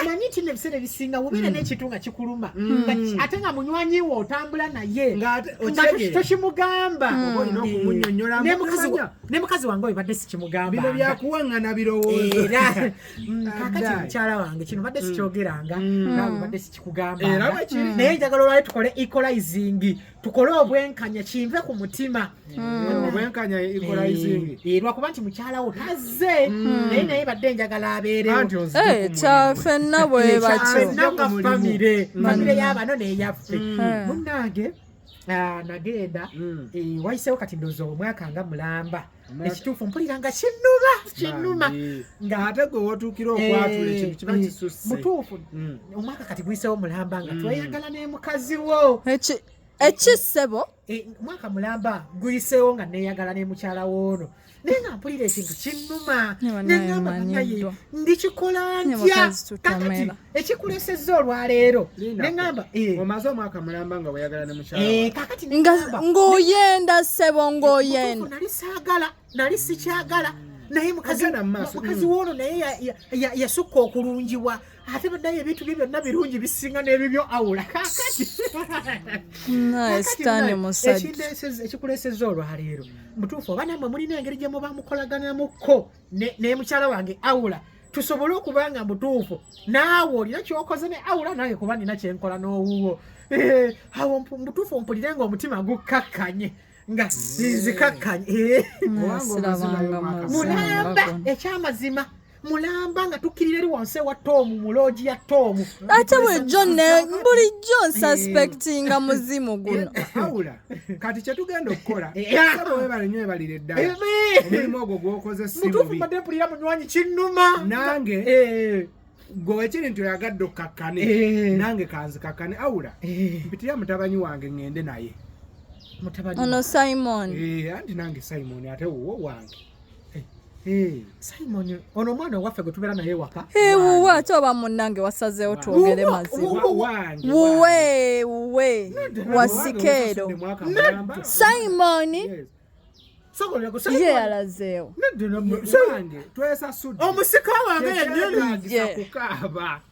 omanyi nti nebiseera ebisinga wobeera mm. nekintu nga kikuluma mm. ate nga munywanyi we otambula naye tokimugamba ne mukazi wange oyo badde sikimugambabino byakuwaŋŋana birowoozoera mm, kakati mukyala wange kino badde sikyogeranga nawe badde sikikugamba naye njagala olwali tukole equalizing tukole obwenkanya kinve ku mutima hmm. obwenkanya equalizing eh, eh, lwakuba nti mukyala wo tazze hmm. naye naye badde enjagala abeerewkyafenna eh, bwebakyofamire famire hmm. yabano neyaffe munange ah, nagenda wayisewo kati ndoza omwaka nga mulamba ekituufu mpulira nga kinnuma kinnuma ng'ate gwe wotuukira okwatula ekintu kiba kisusse mutuufu omwaka kati guyisewo mulamba nga tweyagala ne mukazi wo ekisebo mwaka mulamba guyisewo nga neyagala ne mukyala woono naye nga mpulira ekintu kinnuma nengamba banaye ndikikola ntya kakati ekikulesezza olwaleero neŋamba eh. omaze omwaka mulamba nga weyagala ne mukyalang'oyenda eh, ssebo ng'oyenda nali saagala nali sikyagala naye mukazi mm. woono naye yasukka okulungiwa ate badayo ebintu bye byonna birungi bisinga n'ebibyo awula kakati ekindeeseza ekikulesezza olwaleero mutuufu oba namwe mulina engeri gye muba mukolaganamuko ne mukyala wange awula tusobole okuba nga mutuufu naawe olina kyokoze ne awula naye kuba nina kyenkola n'owuwo eh, awo mutuufu mpulire nga omutima gukkakkanye nga nzikakkanye eh. mulamba ekyamazima mulamba nga tukkirira eri wansi ewa toomu mu loogi ya toomu ate bulijjo bulijjo nsuspectinga muzimu guno awula kati kyetugenda okukola saba webale nyo ebalire ddala omulimu ogwo gwokoze simutuufu mbadde mpulira munywanyi kinnuma nange gwe wekiri nti oyagadde okukakkane eh. nange kanzikakkane awula eh. mpitira mutabanyi wange ngende naye ono simon eh, anti nange simon ate wuwo wange Simon ono omwana owaffe gwe tubeera naye waka wuwe ate oba munnange wasazeewo twogere maziwuwe wuwe wasikeero Simon yeyalazeewo omusika wange yanyumiza kukaaba